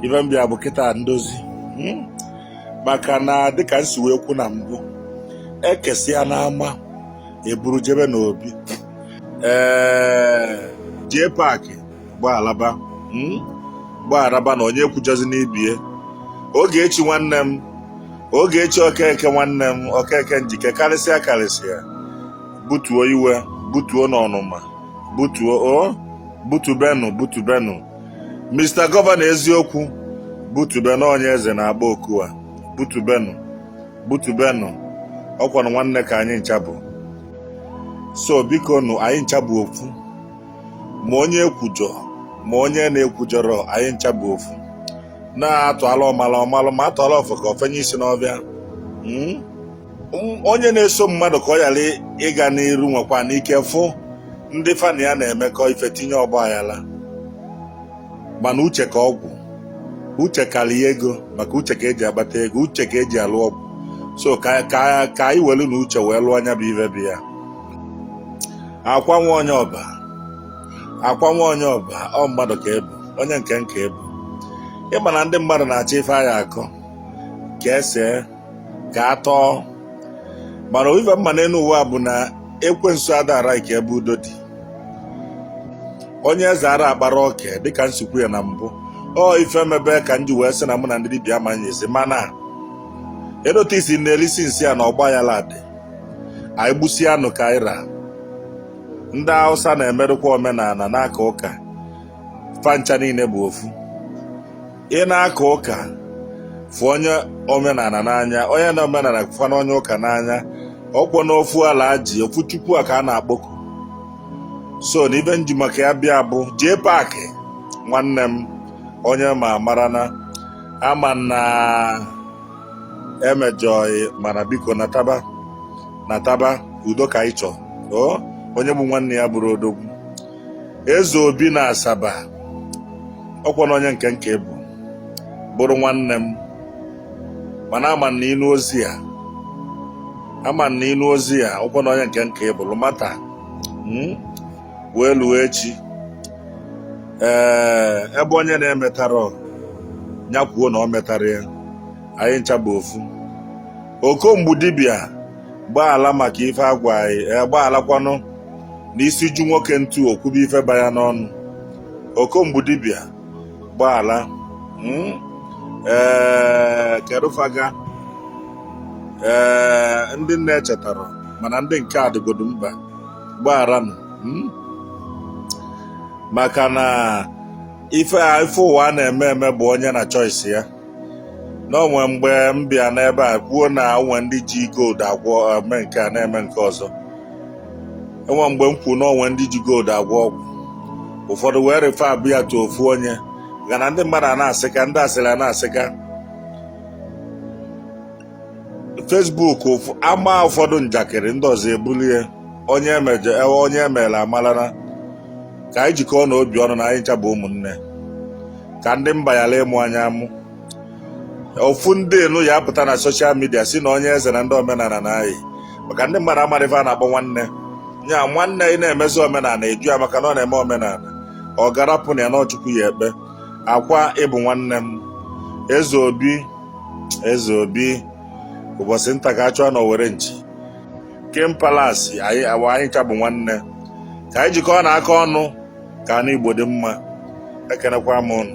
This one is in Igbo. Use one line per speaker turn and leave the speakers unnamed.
ife m bịa bụ kịta ndozi hmm? maka na dịka m si wee kwu na mbụ ekesịa n'ama eburu jebe n'obi ee jee paakị gbaalaba hmm? gbaalaba na onye ekwujọzina ibe ya Ogechi nwanne m Ogechi Okeke nwanne m Okeke Njike karịsịa karịsịa butuo iwe butuo n'ọnụma butuo o butubenụ butubenụ Mr. Gọvanọ eziokwu butubenụ onye eze na-agba oku a butubenụ butubenụ ọkwanụ nwanne ka anyị ncha bụ so bikonụ anyị ncha bụ ofu ma onye ekwujọ ma onye na-ekwujọrọ anyị ncha bụ ofu na atụalụ ọmalụ ọ malụ ma atụalụ ofeke o fenye isi n'ọfịa hmm? onye na-eso mmadụ ka ọ ghara ịga n'iru nwekwanụ ike fụ ndị fa na ya na-emekọ ife tinye ọgba aghara mana uche ka ọgwụ uche karịa ego maka uche ka eji agbata ego uche ka eji alụ ọgwụ so ka anyị welunu uche wee lụọ nya bụ ife bịa Akwa nwa onye Ọba Akwa nwa onye Ọba ọ mmadụ ka ị bụ onye nke nke ị bụ ị ma na ndị mmadụ na-achọ ife a ya-akọ ka esee ka a tọọ mana ife m ma n'elu ụwa bụ na ekwensu adara ike ebe udo dị onye eze ara akpara oke dịka m si kwu ya na mbụ ọ ife emebe ka m ji wee sị na mụ na ndị dibịa amanyezi mana edote isi na-elisi m sị ya na ọgba aghara dị anyị gbusie anụ ka anyị ra ndị Hausa na-emedụkwa omenala na-aka ụka fa ncha niile bụ ofu ị na-aka ụka fụ onye omenala n'anya onye na omenala fụọ na onye ụka n'anya ọkwanụ ofu ala ji ofu chukwu a ka a na-akpọku so na ife m ji maka ya bịa bụ jee paakị nwanne m onye ma mara na ama na emejọ gị mana biko nataba nataba udo ka anyị chọ onye gbu nwanne ya abụrọ odogwu eze obi na Asaba ọkwanụ onye nke nke ị bụ bụrụ nwanne m mana ama na ị nụ ozi a ama na ị nụ ozi a ọkwanụ onye nke nke ị bụrụ ma taa hmm? wee luo echi ee eh, ebe onye na-emetara ya kwuo na o metara ya anyị ncha bụ ofu okomgbu dibịa gbaala maka ife agwa anyị eh, gbaalakwanụ n'isi ju nwoke ntu o kwube ife ba ya n'ọnụ okomgbu dibịa gbaala hmm? ee kedufaga ee ndị m na-echetarọ mana ndị nke adịgodu mba gbagharanụ hmm? maka na ife a ife ụwa a na-eme eme bụ onye na choice ya na o nwe mgbe m bịa n'ebe a kwuo na o nwe ndị ji gold agwọ eme eh, nke a na-eme nke ọzọ e nwe mgbe m kwuo na o nwe ndị ji gold agwọ ọgwụ ụfọdụ wee refe abịa tụ ofu onye ga na ndị mmadụ a na-asịka ndị asịrị a na-asịka Facebook ama ụfọdụ njakịrị ndị ọzọ ebulie onye emeje ewe onye emere amarana ka anyị jikọọnụ obi ọnụ na anyị ncha bụ ụmụnne ka ndị mba ghara ịmụ anyị amụ ofu ndị enu ya apụta na soshal midia sị na onye eze na ndị omenala na anyị maka ndị mmadụ amarọ ife a na-akpọ nwanne nya nwanne ị na-emezi omenala ị jụ ya maka na ọ na-eme omenala ọ garapụ na ya na ọ Chukwu ya-ekpe ọ kwa ị bụ nwanne m Eze Obi Eze Obi ụbọchị nta ka a chụọ na owere nchi King Palace anyị awa anyị ncha bụ nwanne ka anyị jikọọnụ aka ọnụ ka ana Igbo dị mma ekenekwa m ụnụ